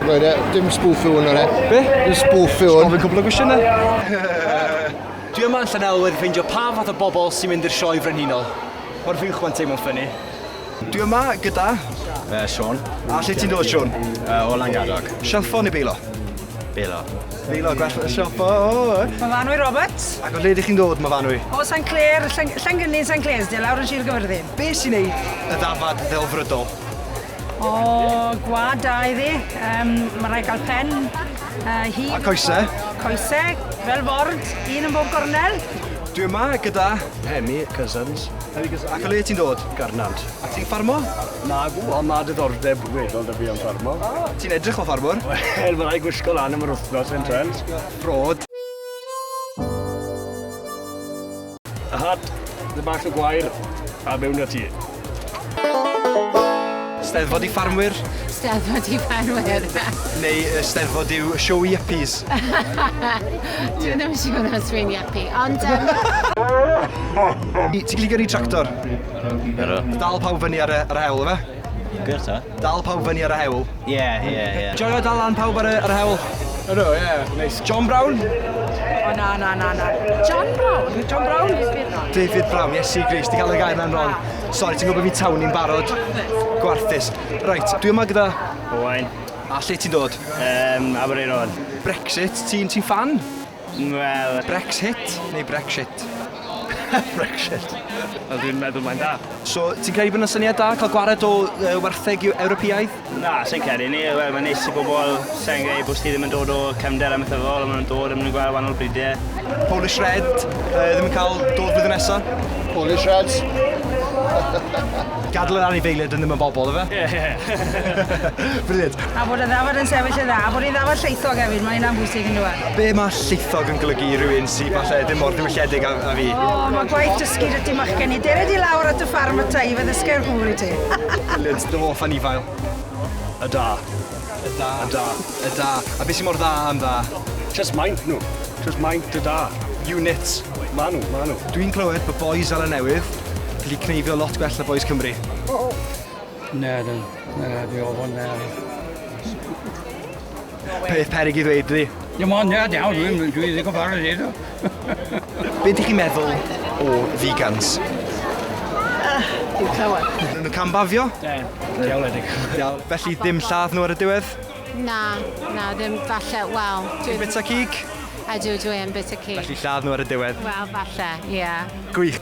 Roedd e, dim spwffu hwn o'n e. Be? Dim spwffu hwn. Gofyn cwbl o gwestiynau. Dwi yma yn Llanelwedd ffeindio pa fath o bobl sy'n mynd i'r sioe frenhinol. Mae'r fi'n chwa'n teimlo'n ffynnu. Dwi yma gyda... Uh, Sean. A lle ti'n dod, Sean? Uh, o Langadog. Sialfo neu beilo? Beilo. Beilo, gwell y sialfo. Myfanwy Robert. Ac o lle ydych chi'n dod, Myfanwy? O San Clair, Llangynnin San Clair, di lawr yn Sir Gyfyrddin. Be sy'n neud y ddafad ddelfrydol? O, gwad da iddi. Um, mae rhaid cael pen. Uh, hi, A coesau. Coesau, fel ford, un yn bob gornel. Dwi yma gyda Hemi Cousins. Hemi Cousins. Ac o le ti'n dod? Garnant. A ti'n ffarmo? Na, gw, ond mae diddordeb weddol da fi am ffarmo. Ah, ti'n edrych o ffarmwr? Wel, mae rhaid gwisgo lan am yr wythnos yn trend. Ffrod. A hat, dy bach o gwair, a mewn â ti. Steddfod i ffarmwyr. Steddfod i ffarmwyr. Neu y steddfod yw siow i yppies. Dwi ddim yn siŵr os fi'n yppi, ond... Ti'n gallu gyrru tractor? Ydw. Dal pawb fyny ar y hewl, ife? Good ta. Dal pawb fyny ar y hewl. Ie, ie, ie. Joio dal lan pawb ar y, ar y hewl. Ydw, ie, neis. John Brown? O, na, na, na, na. John Brown? John Brown? David Brown, Iesu Gris, ti'n cael y gair na'n wrong. Ah. Sorry, ti'n gwybod fi tawn ni'n barod. Gwarthus. Reit, dwi yma gyda... Owain. A lle ti'n dod? Um, Abereiron. Brexit, ti'n ti fan? Wel... Brexit neu Brexit? Brexit. Wel dwi'n meddwl mae'n da. So, ti'n credu bod yna syniad da cael gwared o uh, wartheg Ewropeaidd? Na, sy'n credu ni. Wel, mae'n neis i bobl sy'n gwneud bod ddim yn dod o cefnder am eithafol, ond maen nhw'n dod a maen nhw'n gweld wahanol bridiau. Polish Red, uh, ddim yn cael dod blwyddyn nesaf? Polish Reds? Gadal yr anifeiliaid yn ddim yn bobl, ife? Ie. Brilliant. A bod y ddafad yn sefyll yn dda, a bod hi'n ddafad llaethog hefyd, mae hynna'n bwysig yndyw e? A be' ma' llaethog yn golygu i rywun sy falle ddim mor ddiwylliedig â â fi? O, ma' gwaith dysgu 'da ti machgen i. Dere di lawr at y ffarm ata i, fe ddysga i'r cŵr i ti. Brilliant, dy hoff anifail? Y da. Y da. Y da. Y da. A be sy mor dda am dda? Jyst maint nhw. Jyst maint y da. Unit. Ma' nhw, ma' nhw. Dwi'n clywed bod bois Seland Newydd gallu cneifio lot gwell na bois Cymru. Na, na, na, fi o hwn na. Peth peryg i ddweud, dwi. Dim ond, na, iawn, dwi'n dwi ddigon fawr o ddeud o. Be dych chi'n meddwl o vegans? Dim llawer. Maen nhw'n cam-bafio? Ie, diawledig. Felly ddim lladd nhw ar y diwedd? Na, na, ddim falle, wel... Ti'n bita cig? Ydw, dwi yn bita cig. Felly lladd nhw ar y diwedd? Wel, falle, ie. Gwych.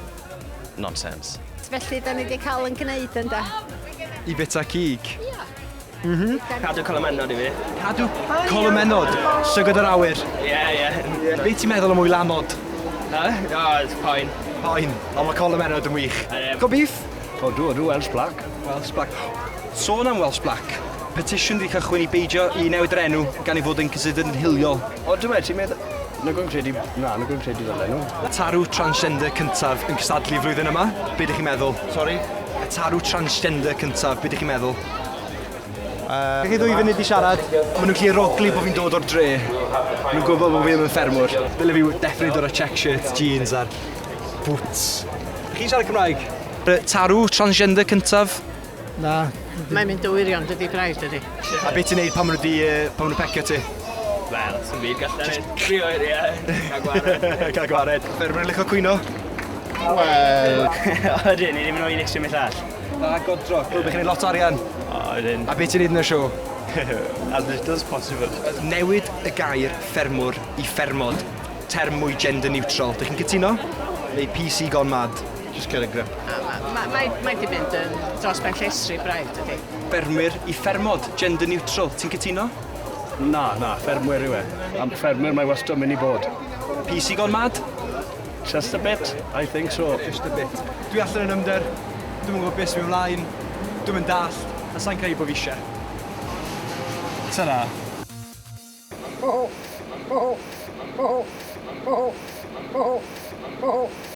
Nonsense. Felly, da ni wedi cael yn gwneud, ynda? I bita cig? Ie. Mhm. Cadw colomennod i fi. Cadw colomennod? Llygod yr awyr? Ie, ie. Be ti'n meddwl am mwy lamod? Yy? O, it's fine. Fine, ond mae colomennod yn wych. Go beef? O, dw, dw, Welsh Black. Welsh Black. Sôn am Welsh Black, petition wedi cychwyn i beidio i newid yr enw gan ei fod yn considered yn hiliol. O, dw, ti'n meddwl... Nag o'n credu... Na, nag o'n credu fel enw. Y tarw transgender cyntaf yn cystadlu flwyddyn yma, be dych chi'n meddwl? Sori? Y tarw transgender cyntaf, be dych chi'n meddwl? Uh, chi ddwy funud i siarad, maen nhw'n gallu rogli bod fi'n dod o'r dre. Maen nhw'n gwybod bod fi ddim yn ffermwr. Dyle fi definitely dod o check shirt, jeans a'r boots. Chi'n siarad Cymraeg? Tarw, transgender cyntaf. Na. Mae'n mynd o wirion, dydy braidd, dydy. A beth ti'n neud pan maen nhw di, uh, pan maen nhw pecio ti? Wel, sy'n byd gallu neud. Tri oer, ie. Cael gwared. Cael gwared. Ffermwr yn licio cwyno? Wel... Ydyn, ni ddim yn oed eisiau mynd all. Dda godro. Hwyl bo chi'n neud lot o arian. O ydyn. A be' ti'n neud yn y show? As little as possible. Newid y gair ffermwr i ffermod, term mwy gender neutral. Dych chi'n cytuno? Neu PC gone mad? Just get a grip. Ma- mae mae 'di mynd yn dros ben llestri braidd dydi? Ffermwyr i ffermod, gender neutral. Ti'n cytuno? Na na, ffermwyr yw e. Am ffermwyr mae wastod myn' i bod. PC gone mad? Just a bit, I think so. Just a bit. Dwi allan yn ymder, dwi'm yn gwybod beth sy'n mynd mlaen, dwi'm yn dallt, a sai'n credu bod fi ishe. Ta-ra.